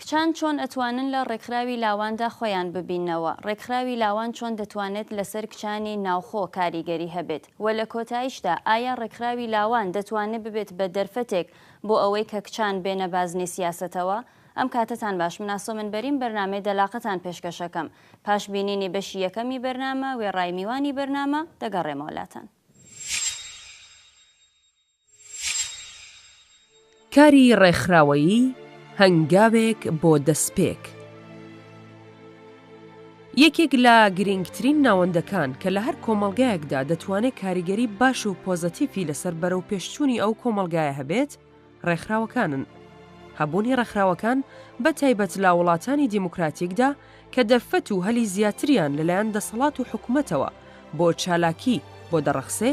کچان چۆن ئەتوانن لە ڕێکخراوی لاواندا خۆیان ببیننەوە؟ ڕێکخراوی لاوان چۆن دەتوانێت لەسەر کچانی ناوخۆ کاریگەری هەبێت؟ وە لە کۆتایشدا ئایا ڕێکخراوی لاوان دەتوانێت ببێت بە دەرفەتێک بۆ ئەوەی کە کچان بێنە بازنەی سیاسەتەوە؟ ئەم کاتەتان باش من ئاسۆمن بەریم بەرنامەی دەلاقەتان پێشکەشەکەم پاش بینینی بەشی یەکەمی بەرنامە وێڕای میوانی بەرنامە دەگەڕێمەوە لاتان. کاری ڕێکخراوەیی، هەنگاوێک بۆ دەستپێک. یەکێک لە گرینگترین ناوەندەکان کە لە هەر کۆمەڵگایەکدا دەتوانێ کاریگەری باش و پۆزەتیفی لەسەر بەرەوپێشچوونی ئەو کۆمەڵگایە هەبێت ڕێکخراوەکانن. هەبوونی ڕێکخراوەکان بە تایبەت لە وڵاتانی دیموکراتیکدا کە دەرفەت و هەلی زیاتریان لەلایەن دەسەڵات و حکومەتەوە بۆ چالاکی بۆ دەڕەخسێ،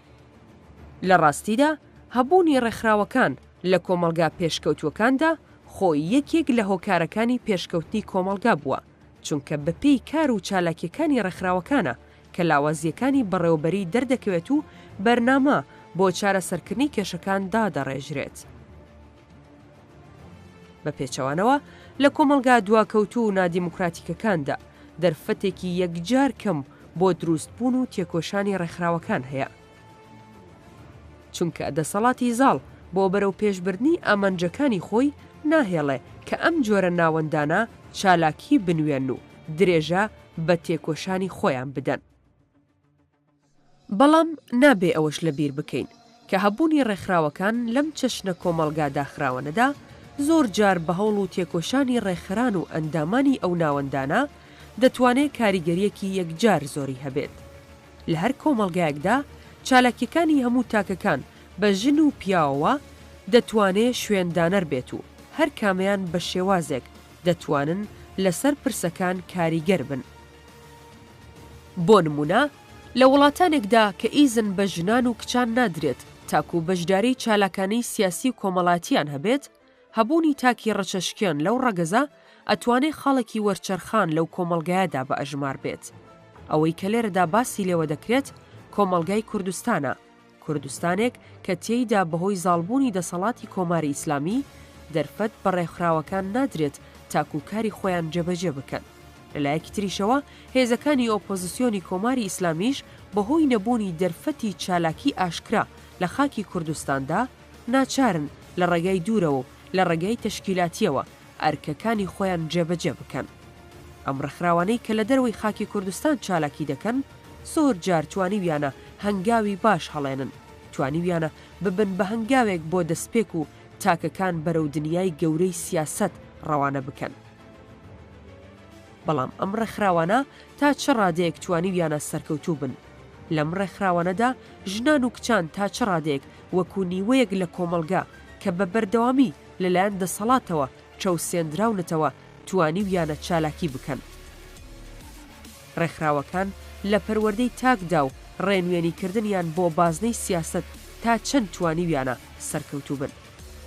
لە ڕاستیدا هەبوونی ڕێکخراوەکان لە کۆمەڵگا پێشکەوتووەکاندا خۆی یەکێک لە هۆکارەکانی پێشکەوتنی کۆمەڵگا بووە، چونکە بەپێی کار و چالاکییەکانی ڕێکخراوەکانە کە لاوازییەکانی بەڕێوەبەری دەردەکەوێت و بەرنامە بۆ چارەسەرکردنی کێشەکان دادەڕێژرێت. بە پێچەوانەوە، لە کۆمەڵگا دواکەوتوو و نادیموکراتیکەکاندا، دەرفەتێکی یەکجار کەم بۆ دروستبوون و تێکۆشانی ڕێکخراوەکان هەیە، چونکە دەسەڵاتی زاڵ بۆ بەرەوپێشبردنی ئامانجەکانی خۆی ناهێڵێ کە ئەم جۆرە ناوەندانە چالاکی بنوێنن و درێژە بە تێکۆشانی خۆیان بدەن. بەڵام نابێ ئەوەش لەبیر بکەین کە هەبوونی ڕێکخراوەکان لەم چەشنە کۆمەڵگا داخراوەنەدا زۆر جار بە هەوڵ و تێکۆشانی ڕێکخەران و ئەندامانی ئەو ناوەندانە دەتوانێ کاریگەریەکی یەکجار زۆری هەبێت لە هەر کۆمەڵگایەکدا چالاکیەکانی هەموو تاکەکان بە ژن و پیاوەوە دەتوانێ شوێن دانەر بێت و هەر کامەیان بە شێوازێک دەتوانن لەسەر پرسەکان کاریگەر بن بۆ نموونە لە وڵاتانێکدا کە ئیزن بە ژنان و کچان نادرێت تاکوو بەشداریی چالاکانەی سیاسی و کۆمەڵاتییان هەبێت، هەبوونی تاکی ڕەچەشکێن لەو ڕەگەزە ئەتوانێ خاڵێکی وەرچەرخان لەو کۆمەڵگایەدا بە ئەژمار بێت. ئەوەی کە لێرەدا باسی لێوە دەکرێت کۆمەڵگای کوردستانە. کوردستانێک کە تێیدا بەهۆی زاڵبوونی دەسەڵاتی کۆماری ئیسلامی، دەرفەت بە ڕێکخراوەکان نادرێت تاکوو کاری خۆیان جێبەجێ بکەن. لەلایەکی تریشەوە هێزەکانی ئۆپۆزسیۆنی کۆماری ئیسلامیش بەهۆی نەبوونی دەرفەتی چالاکی ئاشکرا لە خاکی کوردستاندا، ناچارن لە ڕێگای دوورەوە و لە ڕێگای تەشکیلاتییەوە ئەرکەکانی خۆیان جێبەجێ بکەن. ئەم ڕێکخراوانەی کە لە دەرەوەی خاکی کوردستان چالاکی دەکەن، زۆر جار توانیویانە هەنگاوی باش هەڵێنن، توانیویانە ببن بە هەنگاوێک بۆ دەستپێک و تاکەکان بەرەو دنیای گەورەی سیاسەت ڕەوانە بکەن. بەڵام ئەم ڕێکخراوانە تا چ ڕادەیەک توانیویانە سەرکەوتوو بن؟ لەم ڕێکخراوانەدا ژنان و کچان تا چ ڕادەیەک وەکو نیوەیەک لە کۆمەڵگە کە بە بەردەوامی لەلایەن دەسەڵاتەوە چەوسێندراونەتەوە توانیویانە چالاکی بکەن. ڕێکخراوەکان لە پەروەردەی تاکدا و ڕێنوێنی کردنیان بۆ بازنەی سیاسەت تا چەند توانیویانە سەرکەوتوو بن.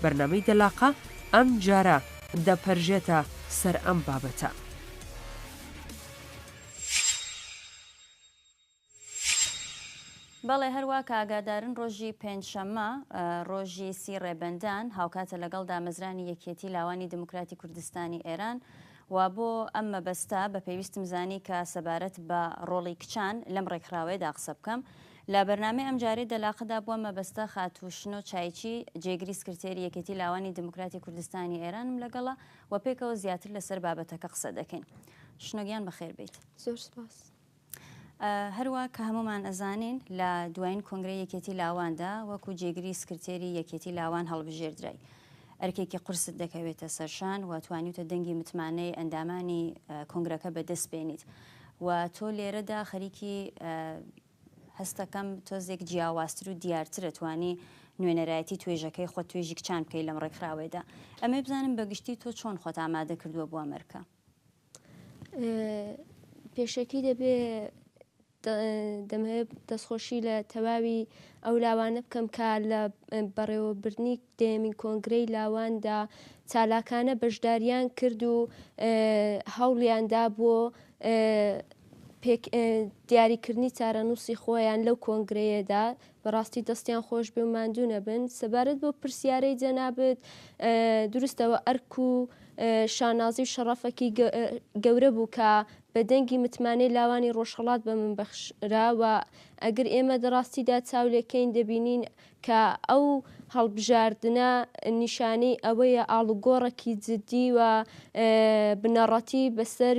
بەرنامەی دەلاقە ئەم جارە دەپەرژێتە سەر ئەم بابەتە. بەڵێ هەروا کە ئاگادارن ڕۆژی پێنج شەممە ڕۆژی سی ڕێبەندان هاوکاتە لەگەڵ دامەزرانی یەکیەتی لاوانی دموکراتی کوردستانی ئێران و بۆ ئەم مەبەستە بە پێویستم زانی کە سەبارەت بە ڕۆڵی کچان لەم ڕێکخراوەیەدا قسە بکەم لە بەرنامەی ئەم جارەی دەلاقەدا بۆ مەبەستە خاتوو شنۆ چایچی جێگری سکرتێری یەکێتی لاوانی دموکراتی کوردستانی ئێرانم لەگەڵە و پێکەوە زیاتر لەسەر بابەتەکە قسە دەکەین شنۆگیان بەخێر بیت زۆر سپاس هەروا کە هەموومان ئەزانین لە دوایین کۆنگرەی یەکێتی لاواندا وەکو جێگری سکرتێری یەکێتی لاوان هەڵبژێردرای. ئەرکێکی قورست دەکەوێتە سەرشان و توانیوتە دەنگی متمانەی ئەندامانی کۆنگرەکە بە دەست بێنیت و تۆ لێرەدا خەریکی هەستەکەم تۆزێک جیاوازتر و دیارترە توانی نوێنەرایەتی توێژەکەی خۆت توێژی کچان بکەی لەم ڕێکخراوەیدا. ئەمەوێ بزانم بە گشتی تۆ چۆن خۆت ئامادە کردووە بۆ ئەم ئەرکە؟ پێشەکی دەبێ دەمەوێت دەستخۆشی لە تەواوی ئەو لاوانە بکەم کە لە بەڕێوەبردنی دەیەمین کۆنگرەی لاواندا چالاکانە بەشداریان کرد و هەوڵیاندا بۆ دیاریکردنی چارەنووسی خۆیان لەو کۆنگرەیەدا بەڕاستی دەستیان خۆشبێ و ماندوو نەبن. سەبارەت بەو پرسیارەی جەنابت، دروستەوە ئەرک و شانازی و شەڕەفەکی گەورە بوو کە بە دەنگی متمانەی لاوانی ڕۆژهەڵات بە من بەخشرا و ئەگر ئێمە دە ڕاستیدا چاو لێکەین دەبینین کە ئەو هەڵبژاردنە نیشانەی ئەوەیە ئاڵوگۆڕەکی جدی و بنەڕەتی بەسەر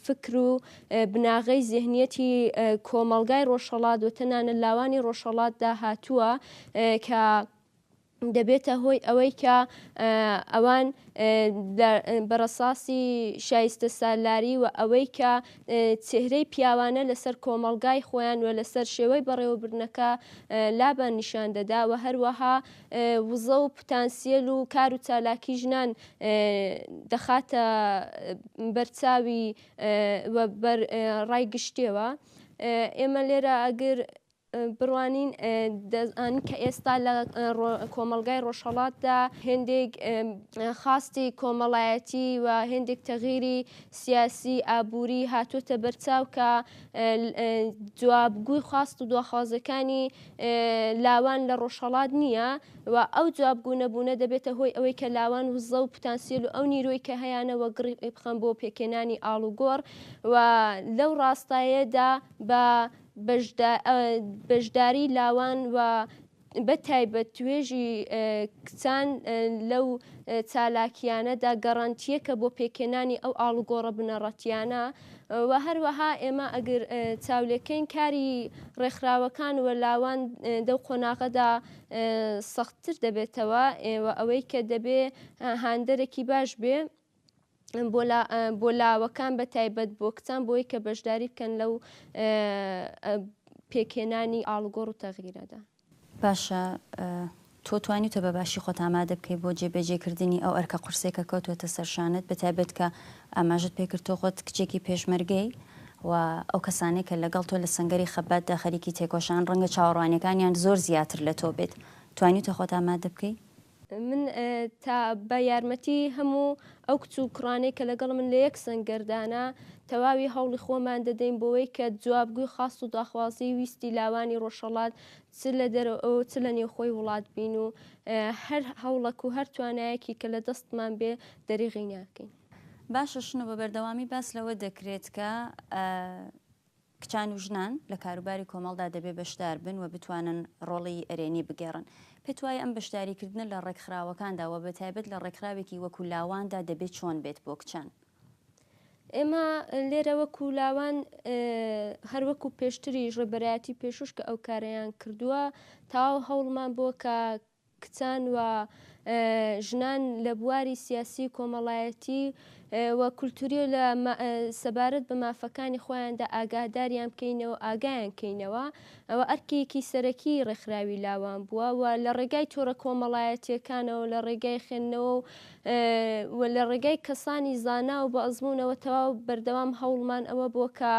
فکر و بناغەی زێهنیەتی کۆمەڵگای ڕۆژهەڵات و تەنانەت لاوانی ڕۆژهەڵاتدا هاتووە کە دەبێتە هۆی ئەوەی کە ئەوان بەڕساسی شایستە سالاری و ئەوەی کە چهرەی پیاوانە لەسەر کۆمەڵگای خۆیان و لەسەر شێوەی بەڕێوەبردنەکە لابان نیشان دەدا و هەروەها وزە و پتانسیل و کار و چالاکی ژنان دەخاتە بەرچاوی و بەر ڕای گشتێوە ئێمە لێرە ئەگر بڕوانین دەزان کە ئێستا لە کۆمەلگای ڕۆژهڵاتدا هێندێک خاستی کۆمەڵایەتی و هێندێک تەغیری سیاسی ئابووری هاتوتە بەرچاو کە جوابگوی خواست و دواخوازەکانی لاوان لە ڕۆژهەڵات نییە و ئەو جوابگو نەبوونە دەبێتە هۆی ئەوەی کە لاوان وزە و پتانسیل و ئەو نیرۆی کە هەیانە وەگڕی بخەن بۆ پێکێنانی ئاڵوگۆڕ و لەو ڕاستایەدا بە بەشداری لاوان و بە تایبەت توێژی کچان لەو چالاکیانەدا گەڕەنتیەکە بۆ پێکێنانی ئەو ئاڵوگۆڕە بنەڕەتیانە وە هەروەها ئێمە ئەگر چاولێکەین کاری ڕێکخراوەکان وە لاوان دەو قۆناغەدا سەختتر دەبێتەوە وە ئەوەی کە دەبێ هاندەرێکی باش بێ بۆ لاوەکان بە تایبەت بۆ کچان بۆی کە بەشداری بکەن لەو پێکهێنانی ئاڵگۆڕ و تەغیرەدا باشە تۆ توانیوتە بە باشی خۆت ئامادە بکەی بۆ جێبەجێکردنی ئەو ئەرکە قورسەی کە کەوتووەتە سەر شانت بە تایبەت کە ئاماژەت پێ کرد تۆ خۆت کچێکی پێشمەرگەی و ئەو کەسانەی کە لەگەڵ تۆ لە سەنگەری خەباتدا خەریکی تێکۆشان ڕەنگە چاوەڕوانیەکانیان زۆر زیاتر لە تۆ بێت توانیوتە خۆت ئامادە بکەی؟ من تا بە یارمەتی هەموو ئەو کچ و کوڕانەی کە لەگەڵمن لە یەک سەنگەردانە، تەواوی هەوڵی خۆمان دەدەین بۆوەی کە جوابگۆی خواست و داخوازیی ویستی لاوانی ڕۆژهەڵات چ لە دەرەوە و چ لە نێوخۆی وڵات بین و هەر هەوڵەک و هەر توانایەکی کە لە دەستمان بێ دەریغی ناکەین. باشە شنۆ بە بەردەوامی باس لەوە دەکرێت کە کچان و ژنان لە کاروباری کۆمەڵدا دەبێ بەشدار بن و بتوانن ڕۆڵی ئەرێنی بگێڕن. پێتوایە ئەم بەشداریکردنە لە ڕێکخراوەکاندا و بەتایبەت لە ڕێکخراوێکی وەکوو لاواندا دەبێ چۆن بێت بۆ کچان؟ ئێمە لێرە وەکوو لاوان هەر وەکوو پێشتریش ڕێبەرایەتی پێشووش کە ئەو کارەیان کردووە تەواو هەوڵمان بۆ کە کچان و ژنان لە بواری سیاسی و کۆمەڵایەتی و کولتووری و لە سەبارەت بە مافەکانی خۆیاندا ئاگاداریان بکەینەوە و ئاگایان بکەینەوە، ئەوە ئەرکێکی سەرەکیی ڕێکخراوی لاوان بووە و لە ڕێگای تۆڕە کۆمەڵایەتییەکانەوە و لە ڕێگای خوێندنەوە و لە ڕێگای کەسانی زانا و بەئەزموونەوە تەواو بەردەوام هەوڵمان ئەوە بووە کە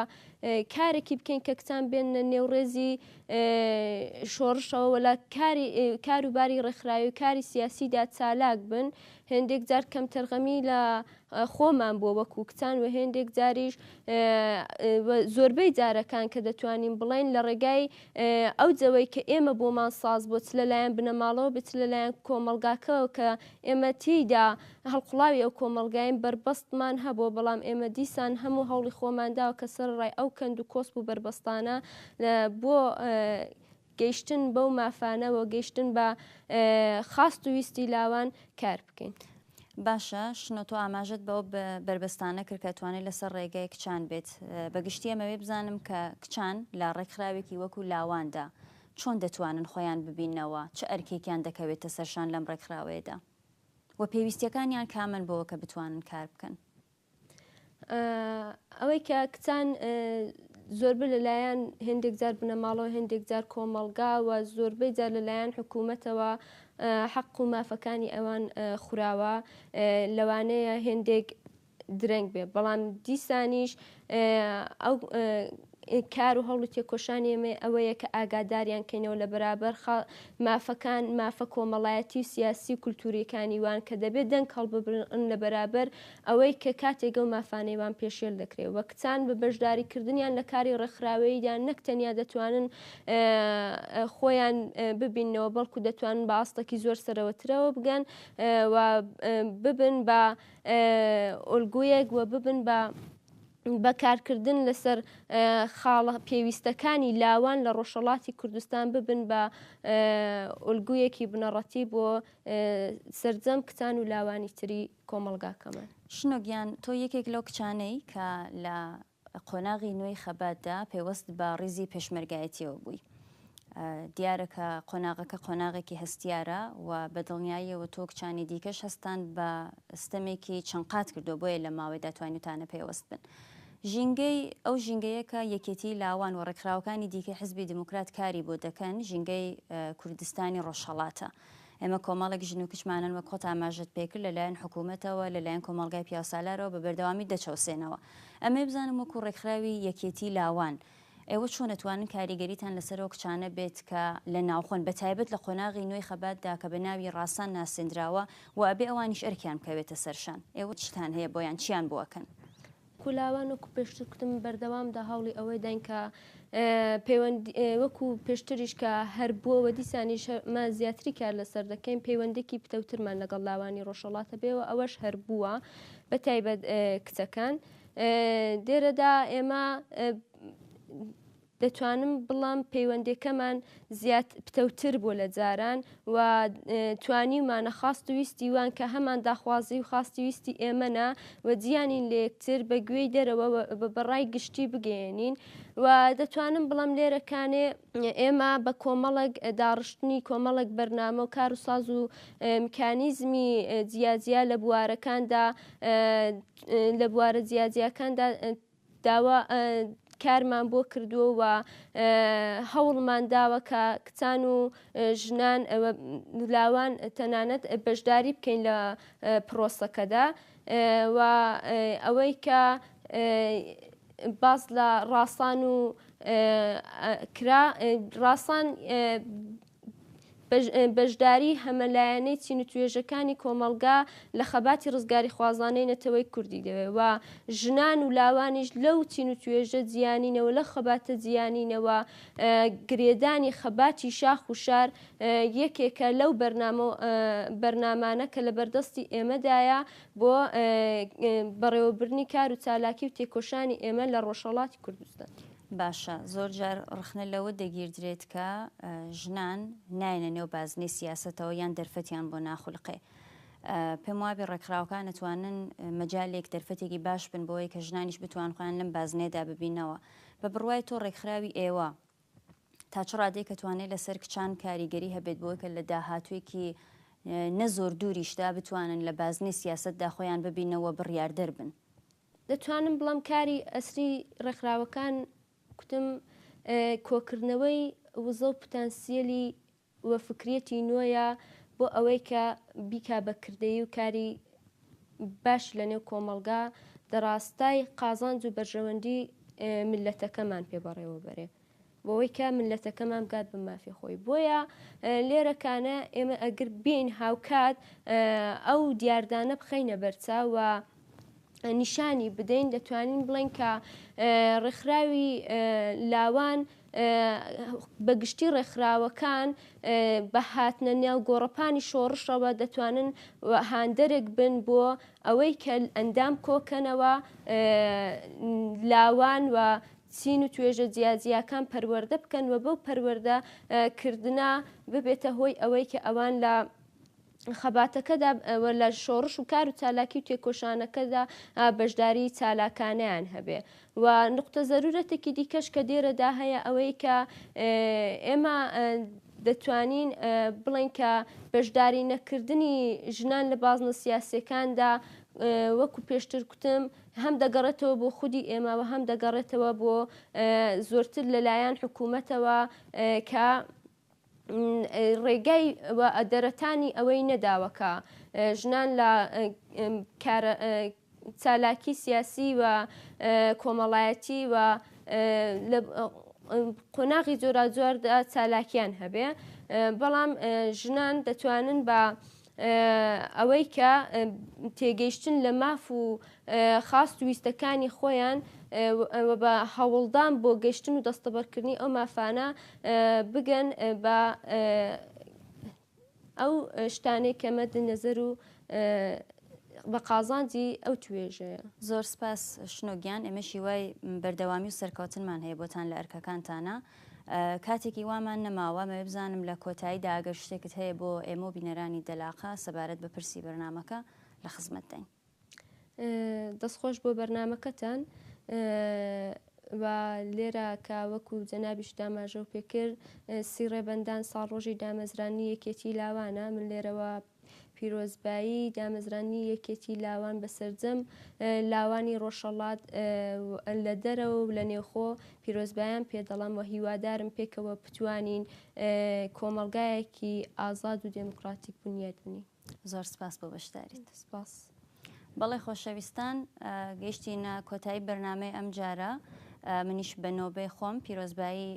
کارێکی بکەین کە کچان بێننە نێو ڕێزی شۆڕشەوە وە لە کاری کار و باری ڕێکخراوی و کاری سیاسی دا چالاک بن، هێندێک جار کەمتەرخەمی لە خۆمان بووە وەکوو کچان وە هێندێک جاریش وە زۆربەی جارەکان کە دەتوانین بڵێین لە ڕێگای ئەو جەوەی کە ئێمە بۆمان ساز بووە چ لە لایەن بنەماڵەوە بێت چ لە لایەن کۆمەڵگاکەوە کە ئێمە تێیدا هەڵقوڵاوی ئەو کۆمەڵگاین بەربەستمان هەبووە بەڵام ئێمە دیسان هەموو هەوڵی خۆمان داوە کە سەرەڕای ئەو کەند و کۆسپ و بەربەستانە بۆ گەیشتن بەو مافانە و گەیشتن بە خواست و ویستی لاوان کار بکەین. باشە شنۆ تۆ ئاماژەت بەو بەربەستانە کرد کە توانێت لەسەر ڕێگای کچان بێت، بە گشتی ئەمەوێ بزانم کە کچان لە ڕێکخراوێکی وەکو لاواندا چۆن دەتوانن خۆیان ببیننەوە، چ ئەرکێکیان دەکەوێتە سەرشان لەم ڕێکخراوەیەدا و پێویستیەکانیان کامەن بۆوە کە بتوانن کار بکەن؟ ئەوەی کە کچان زۆربەی لەلایەن هێندێک جار بنەماڵەوە هێندێک جار کۆمەڵگا و زۆربەی جار لەلایەن حکوومەتەوە حەق و مافەکانی ئەوان خوراوە لەوانەیە هێندێک درەنگ بێ بەڵام دیسانیش ئەو کار و هەوڵ و تێکۆشانی ئێمە ئەوەیە کە ئاگاداریان کەینەوە لە بەرابەر خا مافەکان، مافە کۆمەڵایەتی و سیاسی و کولتوورییەکانی وان کە دەبێ دەنگ هەڵببرن لە بەرابەر ئەوەی کە کاتێک ئەو مافانەی وان پێشێل دەکرێ و کچان بە بەشداری کردنیان لە کاری ڕێکخراوەییدا نەک تەنیا دەتوانن خۆیان ببیننەوە بەڵکوو دەتوانن بە ئاستەکی زۆر سەرەوەترەوە بگەن و ببن بە ئۆلگویەک و ببن بە بە کارکردن لەسەر خاڵە پێویستەکانی لاوان لە ڕۆژهەڵاتی کوردستان ببن بە ئۆلگویەکی بنەڕەتی بۆ سرجەم کچان و لاوانی تری کۆمەڵگاکەمان. شنۆ گیان تۆ یەکێک لەو کچانەی کە لە قۆناغی نوێی خەباتدا پەیوەست بە ڕیزی پێشمەرگایەتیەوە بووی، دیارە کە قۆناغەکە قۆناغێکی هەستیارە و بە دڵنیاییەوە تۆ و کچانی دیکەش هەستتان بە ستەمێکی چەند قات کردووە، بۆیە لەم ماوەیدا توانیوتانە پەیوەست بن. ژینگەی ئەو ژینگەیە کە یەکێتیی لاوان و ڕێکخراوەکانی دیکەی حیزبی دیموکرات کاری بۆ دەکەن، ژینگەی کوردستانی ڕۆژهەڵاتە. ئێمە کۆمەڵێک ژن و کچمانن وەک خۆت ئاماژەت پێ کرد لەلایەن حکوومەتەوە، لەلایەن کۆمەڵگای پیاوسالارەوە بە بەردەوامی دەچەوسێنەوە. ئەمەی بزانم وەکوو ڕێکخراوی یەکێتیی لاوان ئێوە چۆن ئەتوانن کاریگەریتان لەسەر ئەو کچانە بێت کە لە ناوخۆن بە تایبەت لە قۆناغی نوێی خەبات دا کە بە ناوی ڕاسان ناسێندراوە و ئەبێ ئەوانیش ئەرکیان بکەوێتە سەر شان ئێوە چیتان هەیە بۆیان چیان بۆ ئەکەن؟ کولاوان وەکو پێشتر کوتم بەردەوام دا هەوڵی ئەوەی داین کە پەیوەند وەکو پێشتریش کە هەر بووە و دیسانیش ما زیاتری کار لەسەر دەکەین پەیوەندێکی پتەوترمان لەگەڵ لاوانی ڕۆژهەڵات هەبێ و ئەوەش هەر بووە بە تایبەت کچەکان. دێرەدا ئێمە دەتوانم بڵام پەیوەندەکەمان زیاد پتەوتر بۆ لە جاران و توانیمانە خاست ویستی وان کە هەمان داخوازی و خاستی ویستی ئێمەە و جیانین لەکتر بە گوێی دەرەوە بە بەڕای گشتی بگەێنین و دەتوانم بڵم لێرەکانێ ئێمە بە کۆمەڵک داڕشتنی کۆمەڵک بەرنامە و کار و ساز و میکانیزمی جیاجیا لە بوارەکاندا لە بوارە جیاجیاکاندا داوا کارمان بۆ کردووە و هەوڵمان داوە کە کچان و ژنان لاوان تەنانەت بەشداری بکەین لە پرۆسەکەدا و ئەوەی کە باس لە ڕاسان و کرا ڕاسان بەشداریی هەمەلایەنەی چین و توێژەکانی کۆمەڵگا لە خەباتی ڕزگاریخوازانەی نەتەوەی کوردی دەوێت و ژنان و لاوانیش لەو چین و توێژە جیانینەوە لە خەباتە جیانینەوە گرێدانی خەباتی شاخ و شار یەکێکە لەو بەرنامە و بەرنامانە کە لە بەردەستی ئێمەدایە بۆ بەڕێوەبردنی کار و چالاکی و تێکۆشانی ئێمە لە ڕۆژهەڵاتی کوردستان. باشە زۆر جار ڕخنە لەوە دەگیردرێت کە ژنان نایەنە نێو بازنەی سیاسەتەوە یان دەرفەتیان بۆ ناخولقێ. پێم وابێ ڕێکخراوەکان ئەتوانن مەجالێک دەرفەتێکی باش بن بۆ ئەوەی کە ژنانیش بتوان خۆیان لەم بازنەیەدا ببینەوە. بە بڕوای تۆ ڕێکخراوی ئێوە تا چ ڕادەیەک ئەتوانێ لەسەر کچان کاریگەری هەبێت بۆ ئەوەی کە لە داهاتووێکی نە زۆر دووریشدا بتوانن لە بازنەی سیاسەتدا خۆیان ببینەوە بڕیاردەر بن؟ دەتوانم بڵێم کاری ئەسری ڕێکخراوەکان کوتم کۆکردنەوەی وزە و پتانسیەلی و فکریەتی نۆیە بۆ ئەوەی کە بیکا بە کردەیی و کاری باش لە نێو کۆمەڵگا دەڕاستای قازانج و بەرژەوەندی ملەتەکەمان پێ بەڕێوە بەرێ. بۆوەی کە مللەتەکەمان بگات بە مافی خۆی بۆیە لێرە کانە ئێمە ئەگر بین هاوکات ئەو دیاردانە بخەینە بەرچە و نیشانی بدەین دەتوانین بڵێن کە ڕێکخراوی لاوان بەگشتی ڕێکخراوەکان بە هاتنە نێو گۆڕەپانی شۆڕشەوە دەتوانن هاندەرێک بن بۆ ئەوەی کە ئەندام کۆکەنەوە لاوان و چین و توێژە جیاجیاکان پەروەردە بکەن و بەو پەروەردە کردنە ببێتە هۆی ئەوەی کە ئەوان لە خەباتەکەدا و لە شۆڕش و کار و چالاکی و تێکۆشانەکەدا بەشداری چالاکانیان هەبێ و نقطە زەرورەتێکی دیکەش کە دێرەدا هەیە ئەوەی کە ئێمە دەتوانین بڵێن کە بەشداری نەکردنی ژنان لە بازنە سیاسەکاندا وەکو پێشتر کوتم هەم دەگەڕێتەوە بۆ خودی ئێمە و هەم دەگەڕێتەوە بۆ زۆرتر لە لایەن حکوومەتەوە کە ڕێگای و ئەدەرەتانی ئەوەی نەداوە کە ژنان لە چالاکی سیاسی و کۆمەڵایەتی و قۆناغی جۆراجۆردا چالاکیان هەبێ بەڵام ژنان دەتوانن بە ئەوەی کە تێگەیشتن لە ماف و خاست ویستەکانی خۆیان و بە هەوڵدان بۆ گەشتن و دەستەبەرکردنی ئەو مافانە بگەن بە ئەو شتانێک کە مەد نەزەر و بە قازانجی ئەو توێژەیە زۆر سپاس شنۆگیان ئێمەشی وای بەردەوامی و سەرکەوتنمان هەیە بۆتان لە ئەرکەکانتانە. کاتێکی وامان نەماوە مەوێ بزانم لە کۆتایی دا ئەگەر شتێکت هەیە بۆ ئێمە و بینەرانی دەلاقە سەبارەت بە پرسی بەرنامەکە لە خزمەتداین. دەست خۆش بۆ بەرنامەکەتان و لێرە کە وەکو جەنابیشت ئاماژەو پێ کرد سی ڕێبەندان ساڵ ڕۆژی دامەزرانی یەکێتی لاوانە من لێرەوە پیرۆزبایی دامەزراندنی یەکێتی لاوان بە سەرجەم لاوانی ڕۆژهەڵات و لە دەرەوە و لە نێوخۆ پیرۆزبایان پێ دەڵێم و هیوادارم پێکەوە بتوانین کۆمەڵگایەکی ئازاد و دێموکڕاتیک بنیات بنین. زۆر سپاس بۆ بەشداریت. سپاس. بەڵێ خۆشەویستان گەیشتینە کۆتایی بەرنامەی ئەم جارە منیش بە نۆبەی خۆم پیرۆزبایی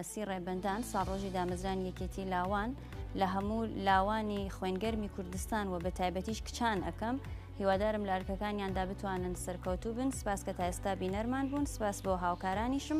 سی ڕێبەندان ساڕۆژی دامەزرانی یەکێتی لاوان لە هەموو لاوانی خوێنگەرمی کوردستان و بە تایبەتیش کچان ئەەکەم هیوادارم لارکەکانیاندا بتوانن سەرکەوتوو بن سپاس کە تا ئێستا بینەرمان بوون سپاس بۆ هاوکارانیشم